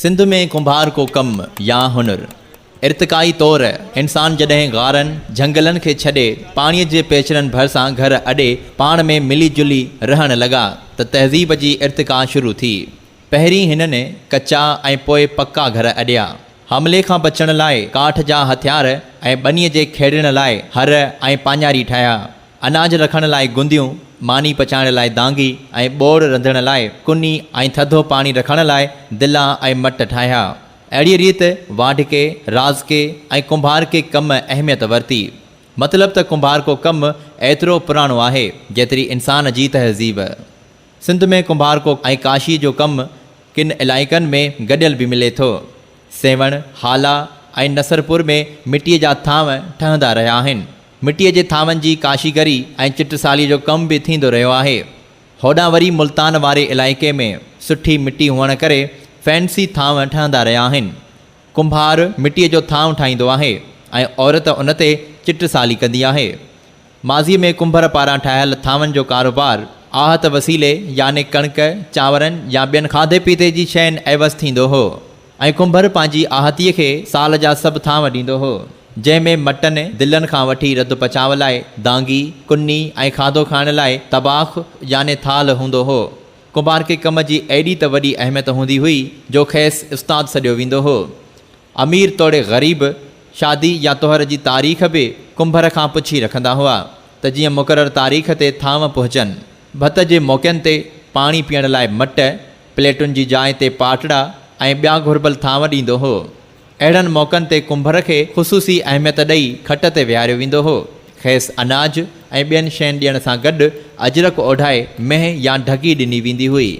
سنڌ ۾ ڪنڀار ڪو ڪم يا هنر ارتقائي طور انسان جڏهن غارن، جهنگلن کي ڇڏي پاڻيء جي پيچرن ڀرسان گهر اڏي پاڻ ۾ ملي جلي رهڻ لڳا ته تهذيب جي ارتقا شروع ٿي. پهرين هنن ڪچا ۽ پوء پڪا گهر اڏيا. حملي کان بچڻ لاء ڪاٺ جا هٿيار ۽ ٻنيء جي کيڙڻ لاء هر ۽ پاڃاري ٺاهيا. اناج رکڻ لاء گنديون، ماني پچائڻ لاء دانگي ۽ ٻوڙ رنڌڻ لاء ڪني ۽ ٿڌو پاڻي رکڻ لاء دلا ۽ مٽ ٺاهيا. اهڙيء ريت واڍڪي، رازڪي ۽ ڪنڀارڪي ڪم اهميت ورتي. مطلب ته ڪنڀارڪو ڪم ايترو پراڻو آهي، جيتري انسان جي تهذيب. سنڌ ۾ ڪنڀارڪو ۽ ڪاشيء جو ڪم ڪن علائقن ۾ گڏيل به ملي ٿو. سيوهڻ، هالا ۽ نصرپور ۾ مٽيء جا ٿانو ٺهندا رهيا آهن. مٽيء جي ٿانون جي ڪاشيگري ۽ چٽساليء جو ڪم به ٿيندو رهيو آهي. هوڏانهن وري ملتان واري علائقي ۾ سٺي مٽي هئڻ ڪري فينسي ٿانو ٺهندا رهيا آهن. ڪنڀار مٽيء جو ٿانو ٺاهيندو آهي ۽ عورت ان تي چٽسالي ڪندي آهي. ماضيء ۾ ڪنڀر پاران ٺاهيل ٿانون جو ڪاروبار آهت وسيلي يعني ڪڻڪ، چانورن يا ٻين کاڌي پيتي جي شين عيوض ٿيندو هو. ۽ ڪنڀر پنهنجي آهتيء کي سال جا سڀ ٿانء ڏيندو هو، جنهن ۾ مٽن، دلن کان وٺي رڌ پچاء لاء دانگي، ڪني ۽ کاڌو کائڻ لاء طباخ يعني ٿالهه هوندو هو. ڪنڀار کي ڪم جي ايڏي ته وڏي اهميت هوندي هئي، جو کيس استاد سڏيو ويندو هو. امير توڙي غريب، شادي يا طهر جي تاريخ به ڪنڀر کان پڇي رکندا هئا، ته جيئن مقرر تاريخ تي ٿانء پهچن. ڀت جي موقعن تي پاڻي پيئڻ لاء مٽ، پليٽن جي جاء تي پاٽڙا ۽ ٻيا گهربل ٿانو ڏيندو هو. اهڙن موقعن تي ڪنڀر کي خصوصي اهميت ڏئي کٽ تي ويهاريو ويندو هو. کيس اناج ۽ ٻين شين ڏيڻ سان گڏ اجرڪ اوڍائي مينهن يا ڍڳي ڏني ويندي هئي.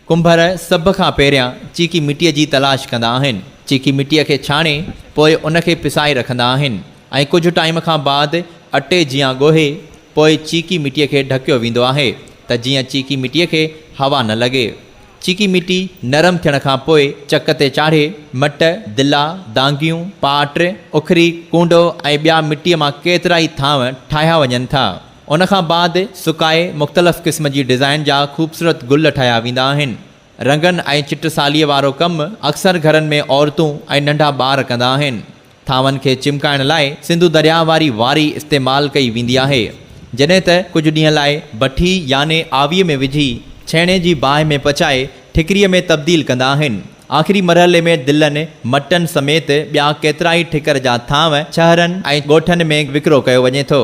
ڪنڀر سڀ کان پهريان چيڪي مٽيء جي تلاش ڪندا آهن. چيڪي مٽيء کي ڇاڻي پوء ان کي پسائي رکندا آهن ۽ ڪجهه ٽائيم کان بعد اٽي جيان ڳوهي، پوء چيڪي مٽيء کي ڍڪيو ويندو آهي ته جيئن چيڪي مٽيء کي هوا نه لڳي. چيڪي مٽي نرم ٿيڻ کان پوء چڪ تي چاڙهي مٽ، دلا، دانگيون، پاٽ، اکري، ڪونڊو ۽ ٻيا مٽيء مان ڪيترائي ٿانء ٺاهيا وڃن ٿا. ان کان بعد سڪائي مختلف قسم جي ڊزائين جا خوبصورت گل ٺاهيا ويندا آهن. رنگن ۽ چٽساليء وارو ڪم اڪثر گهرن ۾ عورتون ۽ ننڍا ٻار ڪندا آهن. ٿانون کي چمڪائڻ لاء سنڌو درياهه واري واري استعمال ڪئي ويندي آهي، جڏهن ته ڪجهه ڏينهن لاء بٺي يعني آويء ۾ وجهي ڇيڻي جي باهه ۾ پچائي ٺڪريء ۾ تبديل ڪندا آهن. آخري مرحلي ۾ دلن، مٽن سميت ٻيا ڪيترائي ٺڪر جا ٿانو شهرن ۽ ڳوٺن ۾ وڪرو ڪيو وڃي ٿو.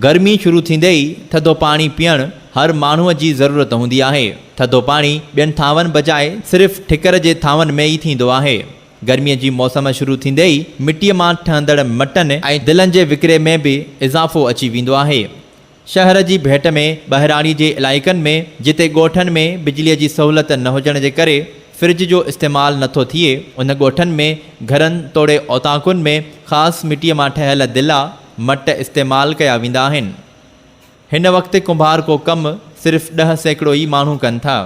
گرمي شروع ٿيندي ئي ٿڌو پاڻي پيئڻ هر ماڻهوء جي ضرورت هوندي آهي. ٿڌو پاڻي ٻين ٿانون بجاء صرف ٺڪر جي ٿانون ۾ ئي ٿيندو آهي. گرميء جي موسم شروع ٿيندي ئي مٽيء مان ٺهندڙ مٽن ۽ دلن جي وڪري ۾ به اضافو اچي ويندو آهي. شهر جي ڀيٽ ۾ ٻهراڙيء جي علائقن ۾ جتي ڳوٺن ۾ بجليء جي سهولت نه هجڻ جي ڪري فرج جو استعمال نه ٿو ٿئي، ان ڳوٺن ۾ گهرن توڙي اوطاقن ۾ خاص مٽيء مان ٺهيل دلا، مٽ استعمال ڪيا ويندا آهن. هن وقت ڪنڀار ڪو ڪم صرف ڏهه سيڪڙو ئي ماڻهو ڪن ٿا،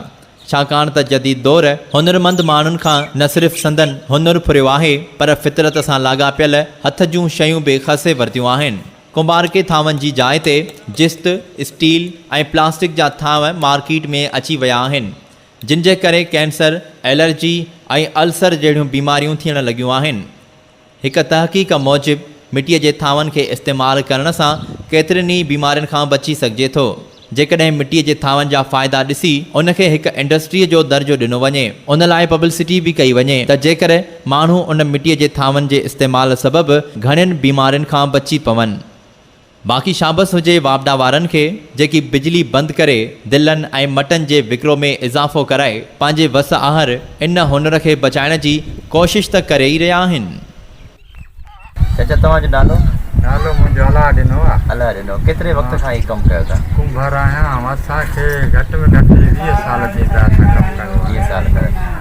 ڇاڪاڻ ته جديد دور. هنرمند ماڻهن کان نه صرف سندن هنر ڦريو آهي پر فطرت سان لاڳاپيل هٿ جون شيون به کسي ورتيون آهن. ڪنڀارڪي ٿانون جي جاء تي جست، اسٽيل ۽ پلاسٽڪ جا ٿانو مارڪيٽ ۾ اچي ويا آهن، جن جي ڪري ڪينسر، الرجي ۽ السر جهڙيون بيماريون ٿيڻ لڳيون آهن. هڪ تحقيق موجب مٽيء جي ٿانون کي استعمال ڪرڻ سان ڪيترين ئي بيمارين کان بچي سگهجي ٿو. جيڪڏهن مٽيء جي ٿانون جا فائدا ڏسي ان کي هڪ انڊسٽريء جو درجو ڏنو وڃي، ان لاء پبلسٽي به ڪئي وڃي ته جيڪر ماڻهو ان مٽيء جي ٿانون جي استعمال سبب گهڻين بيمارين کان بچي پون. باقي شابس هجي واپڊا وارن کي جيڪي بجلي بند ڪري دلن ۽ مٽن جي وڪرو ۾ اضافو ڪرائي پنهنجي وس آهر ان هنر کي بچائڻ جي ڪوشش ته ڪري ئي رهيا آهن. چچا توهان جو نالو؟ نالو منهنجو الهه ڏنو آهي. الهه ڏنو، ڪيتري وقت کان هي ڪم ڪيو ٿا؟ ڪنڀر آهيان، اسان کي گهٽ ۾ گهٽ ويهه سال ٿيندا اسان ڪم ڪندي. ويهه سال ڪيو.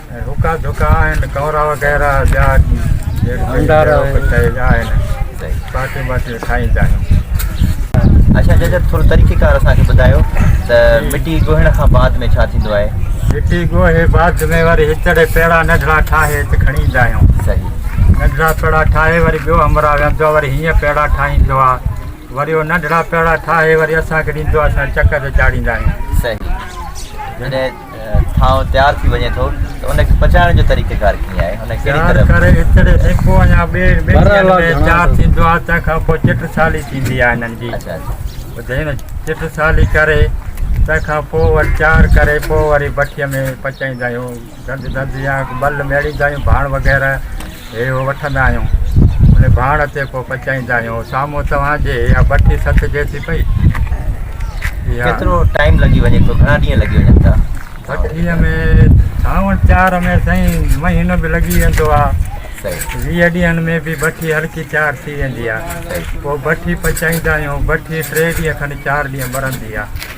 هڪا ڌڪا آهن ڪئورا وغيره ٻيا ڀنڊارا آهن باقي باقي کائيندا آهيون اچا جج ٿورو طريقي ڪار اسان کي ٻڌايو ته مٽي ڳوهڻ کان بعد ۾ ڇا ٿيندو آهي مٽي ڳوهي بعد ۾ وري هچڙي پيڙا ننڍڙا ٺاهي هت کڻي ايندا آهيون صحيح ننڍڙا پيڙا ٺاهي وري ٻيو همراهه ويندو آهي وري هيئن پيڙا ٺاهيندو آهي وري اهو ننڍڙا پيڙا ٺاهي وري اسان کي ڏيندو آهي اسان چڪ تي چاڙهيندا آهيون صحيح ٿانو تيار ٿي وڃي ٿو ته ان کي پچائڻ جو طريقيڪار ڪيئن آهي ان کي ڪهڙي طرح ڪري اتڙي سيڪو يا ٻي ٻيڙيء ۾ تيار ٿيندو آهي تنهن کان پوء چٽ سالي ٿيندي آهي انهن جي اچا اچا هن چٽ سالي ڪري تنهن کان پوء وري تيار ڪري پوء وري بٺيء ۾ پچائيندا آهيون ڌنڌ ڌنڌ يا بل ميڙيندا آهيون ڀاڻ وغيره هي هو وٺندا آهيون. ان ڀاڻ تي ڪو پچائيندا آهيون. سامهون توهان جي اها بٺي سٿجي ٿي پئي. اها. ڪيترو ٽائيم لڳي وڃي ٿو؟ گهڻا ڏينهن لڳي وڃن ٿا؟ بٺيء ۾ ساوڻ چار ۾ سائين مهينو به لڳي ويندو آهي. صحيح. ويهه ڏينهن ۾ به بٺي هلڪي تيار ٿي ويندي آهي. صحيح. پوء بٺي پچائيندا آهيون. بٺي ٽي ڏينهن کن چار ڏينهن ٻرندي آهي.